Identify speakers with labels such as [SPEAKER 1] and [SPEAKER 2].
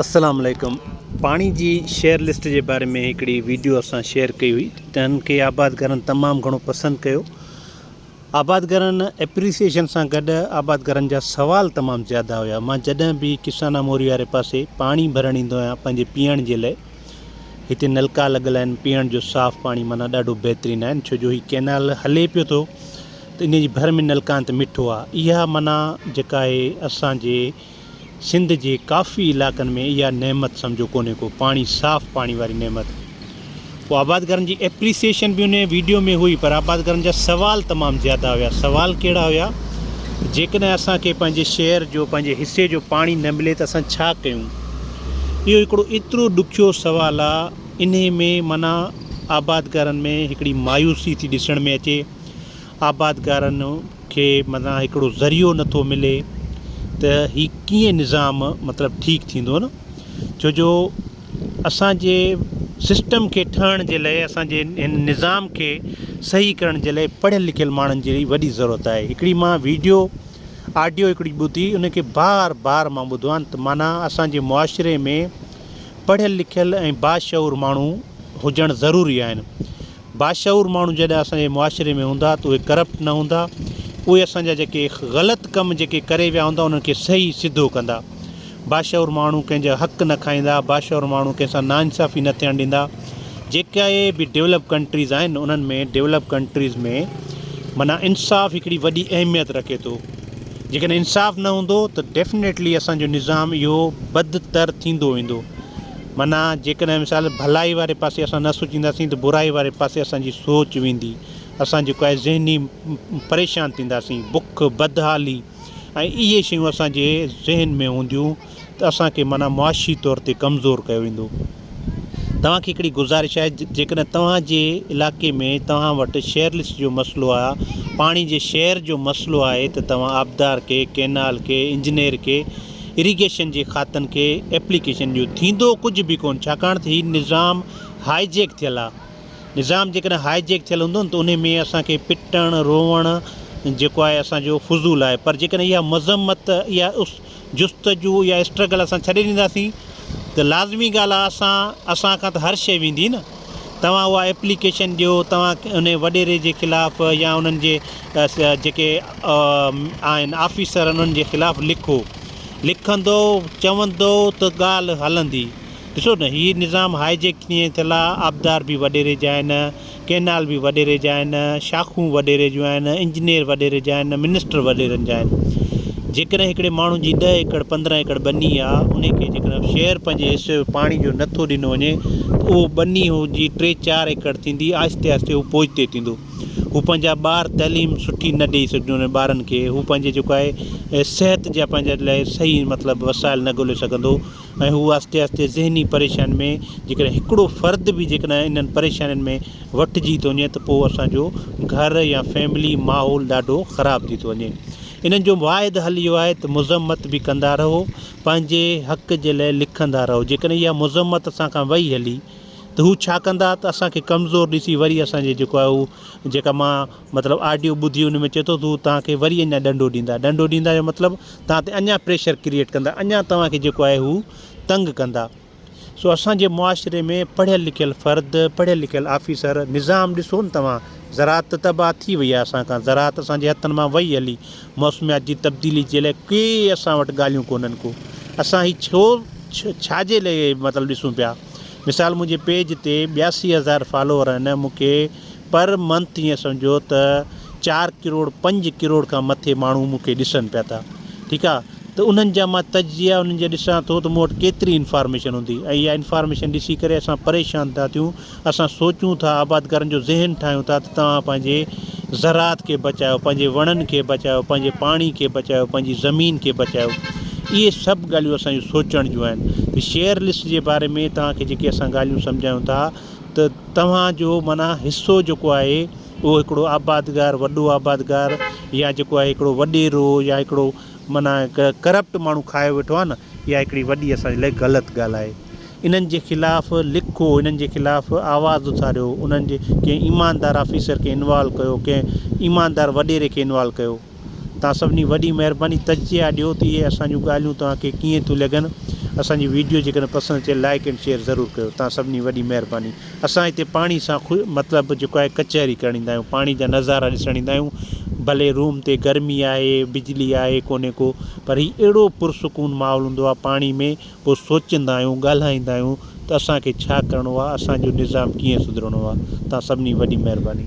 [SPEAKER 1] السلام عليڪم پاڻي جي شيئر لسٽ جي باري ۾ هڪڙي ويڊيو اسان شيئر ڪئي هئي تنهن کي آبادگارن تمام گهڻو پسند ڪيو آبادگارن اپريسيشن سان گڏ آبادگارن جا سوال تمام زياده هيا مان جڏهن به ڪسانا موري واري پاسي پاڻي ڀرڻ ايندو آهيان پنهنجي پيئڻ جي لاء هتي نلڪا لڳل آهن پيئڻ جو صاف پاڻي مانا ڏاڍو بهترين آهن ڇو جو هي ڪينال هلي پيو ٿو ته ان جي ڀر ۾ نلڪان ته مٺو آهي اها مانا جيڪا آهي اسان جي سنڌ جي ڪافي علائقن ۾ اها نعمت سمجهو ڪونهي ڪو پاڻي صاف پاڻي واري نعمت پوء آبادگارن جي ايپريسيشن به انهي ويڊيو ۾ هئي پر آبادگارن جا سوال تمام زياده هيا سوال ڪهڙا هيا جيڪڏهن اسان کي پنهنجي شهر جو پنهنجي حصي جو پاڻي نه ملي ته اسان ڇا ڪيون اهو هڪڙو ايترو ڏکيو سوال آ انهي ۾ معنيٰ آبادگارن ۾ هڪڙي مايوسي ٿي ڏسڻ ۾ اچي آبادگارن کي معنيٰ هڪڙو ذريعو نه ٿو ملي ته هي ڪيئن نظام مطلب ٺيڪ ٿيندو نه ڇو جو اسانجي سسٽم کي ٺهڻ جي لئي اسانجي هن نظام کي صحيح ڪرڻ جي لئي پڙهيل لکيل ماڻهن جي وڏي ضرورت آهي هڪڙي مان ويڊيو آڊيو هڪڙي ٻڌي ان کي بار بار مان ٻڌو آهن ته معنيٰ اسانجي معاشري ۾ پڙهيل لکيل ۽ باشعور ماڻهو هجڻ ضروري آهن باشعور ماڻهو جڏهن اسان جي معاشري ۾ هوندا ته اهي ڪرپٽ نه هوندا اهي اسان جا جيڪي غلط ڪم جيڪي ڪري ويا هوندا انهن کي صحيح سڌو ڪندا باشعور ماڻهو ڪنهن جا حق نه کائيندا باشعور ماڻهو ڪنهن سان ناانصافي نه ٿيڻ ڏيندا جيڪي به ڊيولپ ڪنٽريز آهن انهن ۾ ڊيولپ ڪنٽريز ۾ معنيٰ انصاف هڪڙي وڏي اهميت رکي ٿو جيڪڏهن انصاف نه هوندو ته ڊيفنيٽلي اسان جو نظام اهو بدتر ٿيندو ويندو معنيٰ، جيڪڏهن مثال ڀلائي واري پاسي اسان نه سوچينداسين ته برائي واري پاسي اسان جي سوچ ويندي، اسان جيڪو آهي ذهني پريشان ٿينداسين، بک، بدحالي ۽ اهي شيون اسان جي ذهن ۾ هونديون ته اسان کي معنيٰ معاشي طور تي ڪمزور ڪيو ويندو. توهان کي هڪڙي گذارش آهي جيڪڏهن توهان جي علائقي ۾ توهان وٽ شيئرلسٽ جو مسئلو آهي، پاڻي جي شيئر جو مسئلو آهي ته توهان آبدار کي، ڪينال کي، انجنيئر کي اريگيشن جي کاتن کي ايپليڪيشن ڏيو ٿيندو ڪجهه به ڪون ڇاڪاڻ ته هي نظام هائي جيڪ ٿيل آ نظام جيڪڏهن هائي جيڪ ٿيل هوندو نه ته انهي ۾ اسان کي پٽڻ روئڻ جيڪو آهي اسان جو فضول آهي پر جيڪڏهن اها مذمت اها جستجو يا اسٽرگل اسان ڇڏي ڏينداسين ته لازمي ڳالهه آ اسان اسان کان ته هر شيء ويندي نه. توهان اها ايپليڪيشن ڏيو، توهان انهي وڏيري جي خلاف يا انهن جي جيڪي آهن آفيسر انهن جي خلاف لکو، لکندؤ، چوندؤ ته ڳالهه هلندي. ڏسو نه هي نظام هائيجيڪ ڪيئن ٿيل آ، آبدار به وڏيري جا آهن، ڪئنال به وڏيري جا آهن، شاخون وڏيري جون آهن، انجنيئر وڏيري جا آهن، منسٽر وڏيرن جا آهن. جيڪڏهن هڪڙي ماڻهو جي ڏهه ايڪڙ پندرهن ايڪڙ ٻني آ انهي کي جيڪڏهن شهر پنهنجي حصي جو پاڻي جو نٿو ڏنو وڃي ته اهو ٻني جي ٽي چار ايڪڙ ٿيندي آهستي آهستي هو پوئتي ٿيندو هو پنهنجا ٻار تعليم سٺي نه ڏئي سگهندو انهن ٻارن کي هو پنهنجي جيڪو آهي صحت جا پنهنجا لاء صحيح مطلب وسائل نه ڳولي سگهندو ۽ هو آهستي آهستي ذهني پريشانين ۾ جيڪڏهن هڪڙو فرد به جيڪڏهن انهن پريشانين ۾ وٺجي ٿو وڃي ته پوء اسانجو گهر يا فيملي ماحول ڏاڍو خراب ٿي ٿو وڃي انهن جو واحد حل اهو آهي ته مذمت به ڪندا رهو پنهنجي حق جي لاء لکندا رهو جيڪڏهن اها مذمت اسان کان وئي هلي ته هو ڇا ڪندا ته اسان کي ڪمزور ڏسي وري اسان جي جيڪو آهي هو جيڪا مان مطلب آڊيو ٻڌي ان ۾ چئي ٿو ته هو توهان کي وري اڃا ڏنڊو ڏيندا ڏنڊو ڏيندا جو مطلب توهان تي اڃا پريشر ڪريئيٽ ڪندا اڃا توهان کي جيڪو آهي هو تنگ ڪندا سو اسان جي معاشري ۾ پڙهيل لکيل فرد، پڙهيل لکيل آفيسر، نظام ڏسو نه توهان، زراعت ته تباهه ٿي وئي آهي اسان کان، زراعت اسان جي هٿن مان وئي هلي، موسميات جي تبديلي جي لاء ڪي اسان وٽ ڳالهيون ڪونهن ڪو اسان هي ڇو ڇا جي لاء مطلب ڏسون پيا مثال منهنجي پيج تي ٻياسي هزار فالوور آهن مون کي پر منٿ ائين سمجهو ته چار ڪروڙ پنج ڪروڙ کان مٿي ماڻهو مون کي ڏسن پيا ٿا ٺيڪ آ ته انهن جا مان تجزيا انهن جا ڏسان ٿو ته مون وٽ ڪيتري انفارميشن هوندي ۽ اها انفارميشن ڏسي ڪري اسان پريشان ٿا ٿيون اسان سوچون ٿا آبادگارن جو ذهن ٺاهيون ٿا ته توهان پنهنجي زراعت کي بچايو پنهنجي وڻن کي بچايو پنهنجي پاڻي کي بچايو پنهنجي زمين کي بچايو اهي سڀ ڳالهيون اسان جون سوچڻ جون آهن ته شيئر لسٽ جي باري ۾ توهان کي جيڪي اسان ڳالهيون سمجهايون ٿا ته توهان جو معنيٰ حصو جيڪو آهي اهو هڪڙو آبادگار وڏو آبادگار يا جيڪو آهي هڪڙو وڏيرو يا هڪڙو معنيٰ ڪرپٽ ماڻهو کائي ويٺو آهي نه اها هڪڙي وڏي اسان جي لاء غلط ڳالهه آهي انهن جي خلاف لکو انهن جي خلاف آواز اٿاريو انهن جي ڪنهن ايماندار آفيسر کي انوالو ڪيو ڪنهن ايماندار وڏيري کي انوالو ڪيو توهان سڀني وڏي مهرباني تجزيا ڏيو ته اهي اسان جون ڳالهيون توهان کي ڪيئن ٿيون لڳن اسان جي ويڊيو جيڪڏهن پسند اچي لائيڪ اينڊ شيئر ضرور ڪيو توهان سڀني وڏي مهرباني اسان هتي پاڻي سان خو مطلب جيڪو آهي ڪچهري ڪرڻ ايندا آهيون پاڻي جا نظارا ڏسڻ ايندا آهيون ڀلي روم تي گرمي آهي بجلي آهي ڪونهي ڪو پر هي اهڙو پرسڪون ماحول هوندو آهي پاڻي ۾ پوء سوچيندا آهيون ڳالهائيندا آهيون ته اسان کي ڇا ڪرڻو آهي اسان جو نظام ڪيئن سڌرڻو آهي توهان سڀني وڏي مهرباني.